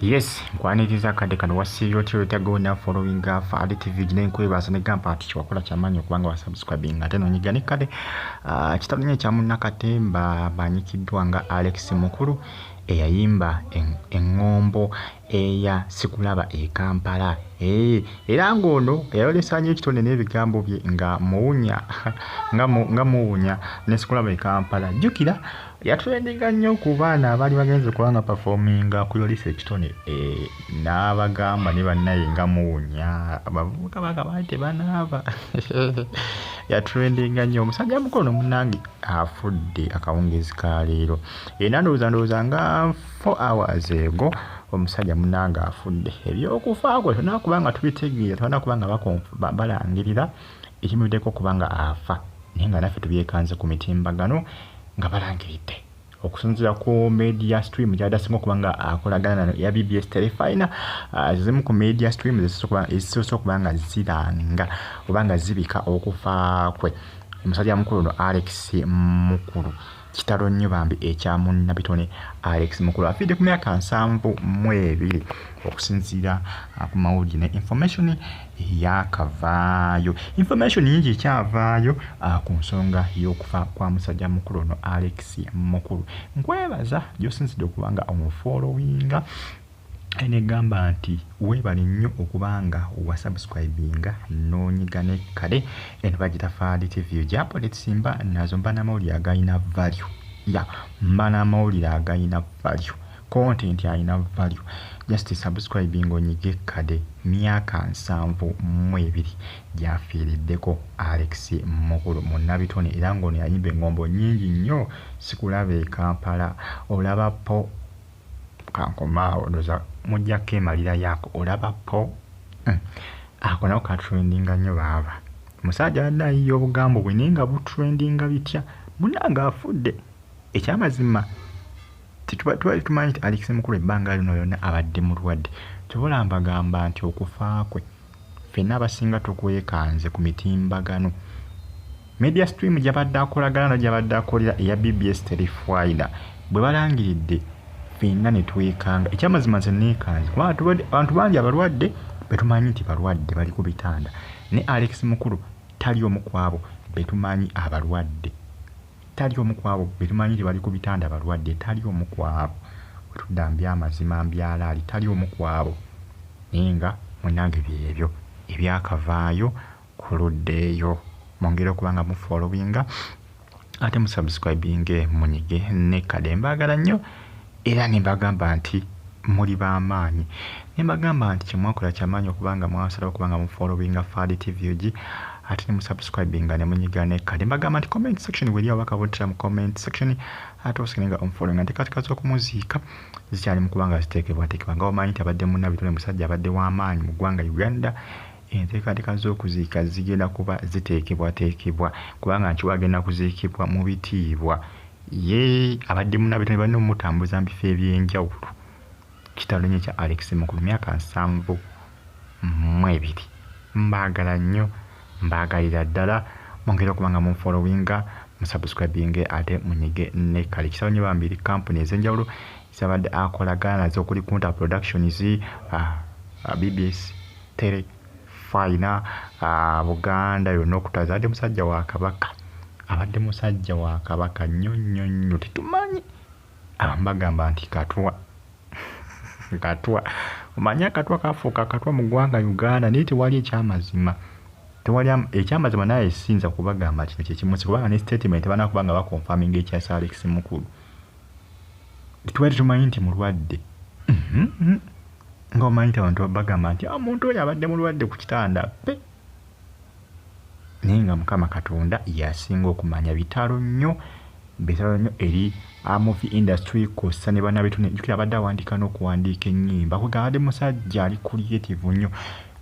yes nkwaniriza akadde kano wasiibye otya wetagawo na following afa ali tv gina enkwebaasa ne gampa ati kyewakola kyamaanyi okubanga wasubscribing ate nonyiga ne kale ah, kitalinyo ekyamunnakatemba banyikiddwa nga alex mukulu eyayimba eŋŋombo eya sikulaba e kampala eh, era ng'ono yayolesanyo ekitonde n'ebigambo bye nga muwunya nga muwunya ne sikulaba e kampala jjukira Yatrendinga nnyo ku baana abaali bagenze kuba nga performinga ku yolisa ekitone eh, n'abagamba ne bannaye nga muwunya abavubuka bakabaali tebanaaba yatrendinga nnyo omusajja mukono munange afudde akawungeezi ka leero era ndowooza ndowooza nga 4 hours ego omusajja munange afudde ebyokufa kwe tolina kuba nga tubitegeera tolina kuba nga balangirira ekimuviddeko okuba nga afa naye nga naffe tubyekanze ku mitimbagano nga balangiridde okusinzira ku media stream gyadasinga okuba nga akolagana nano eya bbs telefina ah, zimu ku media stream ezisoose okuba nga ziranga oba nga zibika okufa kwe omusajja mukulu no alex mukulu Kitalo nnyo bambi ekya munnabitone Alex Mukulu afiidde ku myaka nsanvu mu ebiri okusinziira uh, ku mawulire ne information yakavaayo information nyingi ekyavaayo uh, ku nsonga y'okufa kwa musajja mukulu ono Alex Mukulu nkwebaza gyosinzidde okuba nga omufoolowinga Negamba nti webale nnyo okuba nga wa subscribinga nonyiga ne kade eno bagita faali TV yo gya politics mba nazo mba na mawulire agayina value ya mba na mawulire agayina value content ayina value just subscribing onyige kade myaka nsanvu mu ebiri gyafiiriddeko Alex Mukulu munnabitone era ng'ono yayimba engombo nyingi nnyo sikulaba e Kampala olaba po Kankoma awo ndoza mujja kemalira yako olaba po mm. ako nako ka trendinga nnyo baaba omusajja abadde ayiya obugambo bwe naye nga butrendinga bitya munange afudde ekyamazima tubali tumanyi nti alekise mukulu ebbanga lino lyona abadde mulwadde kyobola mbagamba nti okufa kwe Ffenna abasinga tukwekanze ku mitimbagano. Media Stream gyabadde akolagana na gyabadde akolera eya BBS teri fayida. Bwe balangiridde ffenna ne twekanga. Ekyamazima nze neekanze kubanga tubadde abantu bangi abalwadde be tumanyi nti balwadde bali ku bitanda. Ne Alex Mukulu tali omu ku abo be tumanyi abalwadde. Tali omu ku abo be tumanyi nti bali ku bitanda balwadde, tali omu ku abo, bwe tudda mby'amazima mby'alaali, tali omu ku abo, naye nga, munnange, by'ebyo ebyakavaayo ku ludda eyo. Mwongere okuba nga mu followinga, ate mu subscribinge, munyige ne kade. Mbaagala nnyo. Era ne mbagamba nti, Muli ba maanyi. Ne mbagamba nti, Kye mwakola kya maanyi okuba nga mwasalawo okuba nga mu followinga FADTVUG ate ne mu subscribinga ne munyiga ne kka. Ne mbagamba nti, Comment section w'eri ababaka b'oddira mu comment section ate osigalenga omufollowinga. Enteekateeka z'okumuziika zikyali mu kuba nga ziteekebwateekebwa. Nga bw'omanyi nti abadde munna bitone musajja abadde wa maanyi mu ggwanga Uganda, enteekateeka z'okuziika zigenda kuba ziteekebwateekebwa kubanga Nkiwa agenda kuziikibwa mu bitiibwa. Ye abadde munaabwe ne banne omumutambuza mu bifo eby'enjawulo. Kitalo nnyo ekya Alex Mukulu, myaka nsanvu mu ebiri. Mbaagala nnyo, mbaagalira ddala. Mwongere okuba nga munfollowinga, musubscribinge ate munyige ne kali. Kitalo nnyo bambi eri kkampuni ez'enjawulo z'abadde akolagana nazo okuli Kunta Productions, bbs, Tele. Fine ah Buganda yonna okutaasa abadde musajja wa Kabaka abadde musajja wa Kabaka nnyo nnyo nnyo tetumanyi abamu bagamba nti Katwa Katwa omanyi akatwa kaafuuka akatwa mu ggwanga Uganda naye tewali ekyamazima tewali ekyamazima naye siyinza kubagamba kino kye kimu kubanga ne statement tebana kubanga bakonfaminga ekya Sir Alex Mukulu tewali tumanyi nti mulwadde mm-hmm. nga omanyi nti abantu bagamba nti omuntu ah, oyo abadde mulwadde ku kitanda pe naye nga mukama katonda yasinga okumanya bitalo nnyo bitalo nnyo eri amovi ah, industry kosa ne bana betune jukira abadde awandiika n'okuwandiika ennyimba kuga abadde musajja ali creative nnyo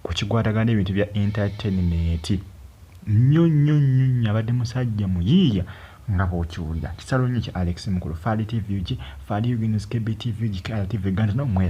ku kigwadaga n'ebintu bya entertainment nnyo nnyo nnyo nnyo abadde musajja muyiiya nga bwokiwulira kisalo nnyo kya alex mukulu fali tv gi fali ugnskb tv gi kala tv ganda nomwera